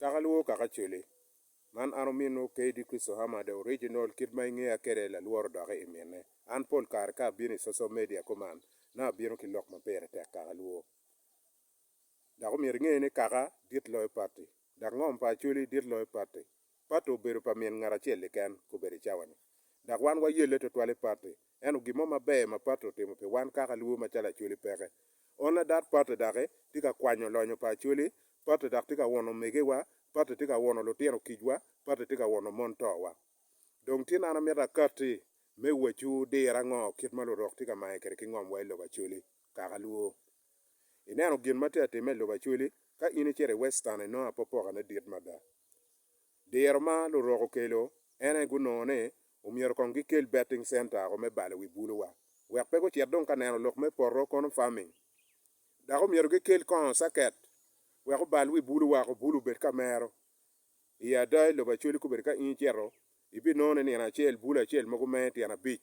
Taka lworo kaka coli. Man an ominwu KD Christo Hammer the original kit ma ingeya kede lalworo doki imine. An pol kare ka abino i social media kuman nongo abino ki lok ma pire tek kaka lwo. Dok omyero inge ni kaka dit loyo patti. Dok ngom pa acoli dit loyo patti. Patti obedo pa min ngat acel keken kobedi i cawa-ni. Dok wan wayelle twatwal i Patti. Ento gin mo maber ma Patti otimo pi wan kaka lubo macalo Acholi peke. On adat Patti daki tye ka kwanyo lonyo pa Acholi, Patti daki tye ka wono omegewa, Patti tye ka wono lutino kicwa, Patti tye ka wono mon towa. Dong tin an amito akatti me wacu dir ango kit ma lurok tye ka mange kwede ki ngomwa i lobo Acholi kaka lubo. Ineno gin ma tye ka timme i lobo Acholi? Ka in icito i Western inongo apopokane dit mada. Diro ma lurok okelo en aye gunongo ni omyero kong gikel betting center woko me balo wi buluwa wek pe gucit dong ka neno lok me poto kono farming. Dok omyero gikel kongo circuit wek obal wi bulu woko, bulu obed ka mero. I ada i lobo Acholi kobedi ka in icito ibinongo ni nino acel bulu acel mogo menge tyen abic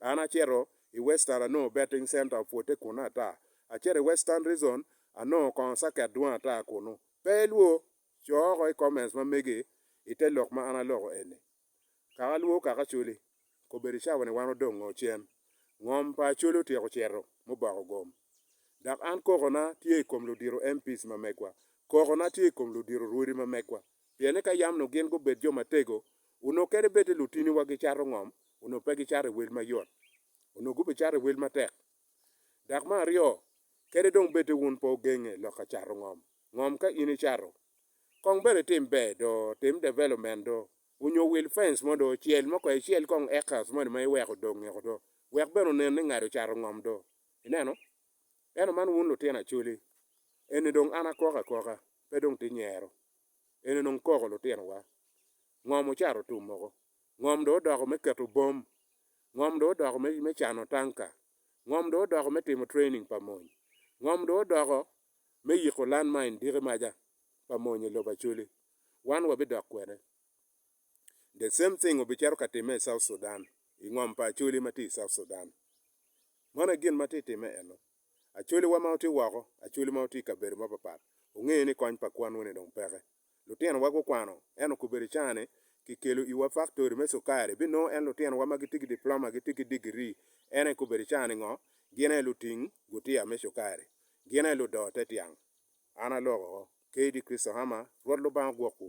An acito i Western anongo Betting Center opwote kunnu ata. Acito i Western Reason anongo kongo circuit dwong ata kunnu. Pe ilwo? Co oko i comments ma megi i te lok ma an aloko eni. Kaka lwo kaka Acholi okobedo i cawa ni wan odong ngo cen? Ngom pa Acholi otyeko cito muboko gom. Dok an koko na tye i kom ludito MPs ma megwa. Koko na tye i kom ludito Rwodi ma megwa. Pien ni ka yam nongo gin gubed jo matego Onongo kene bed ni lutiniwa gicato ngom, onongo pe gicato i wel mayot. Onongo gubicato i wel matek. Dok me aryo, kadi dong bed ni wun pe wugenge lok ka cato ngom, ngom ka in icato, kong bene itim ber do, tim development do, onyo wil fence mo do, cel mo kong, icel kong acres moni ma iweko odong ngeko do, wek bene onen ni ngado cato ngom do. Ineno? Ento man wun lutino Acholi, eni dong an akoko akoka, pe dong tye nyero. en onongo koko lutinowa. Ngom ocato otum moko. Ngom dong odoko me keto bom. Ngom dong odoko me, me cano tanka. Ngom dong odoko me timo training pa mony. Ngom dong odoko me yiko land mine diki maja pa mony i lobo Acholi. Wan wabidok kwede. The same thing obicito ka timme i South Sudan, i ngom pa Acholi ma tye i South Sudan. Mano aye gin ma tye timme eno. Acwaliwa ma otye woko, acwali ma otye i kabedo mapapat, ongeyo ni kony pa kwan-ni dong peke. Lutinowa gukwano, ento kobedi caa ni kikelo iwa faktori me cukari, binongo en lutinowa ma gitye ki diploma, gitye ki digiri, en aye kobedi caa ni ngo, gin aye luting gutiya me cukari. Gin aye ludoo te tyang. An aloko oko. K. D. Christohama, Rwot Lubanga ogwokwu.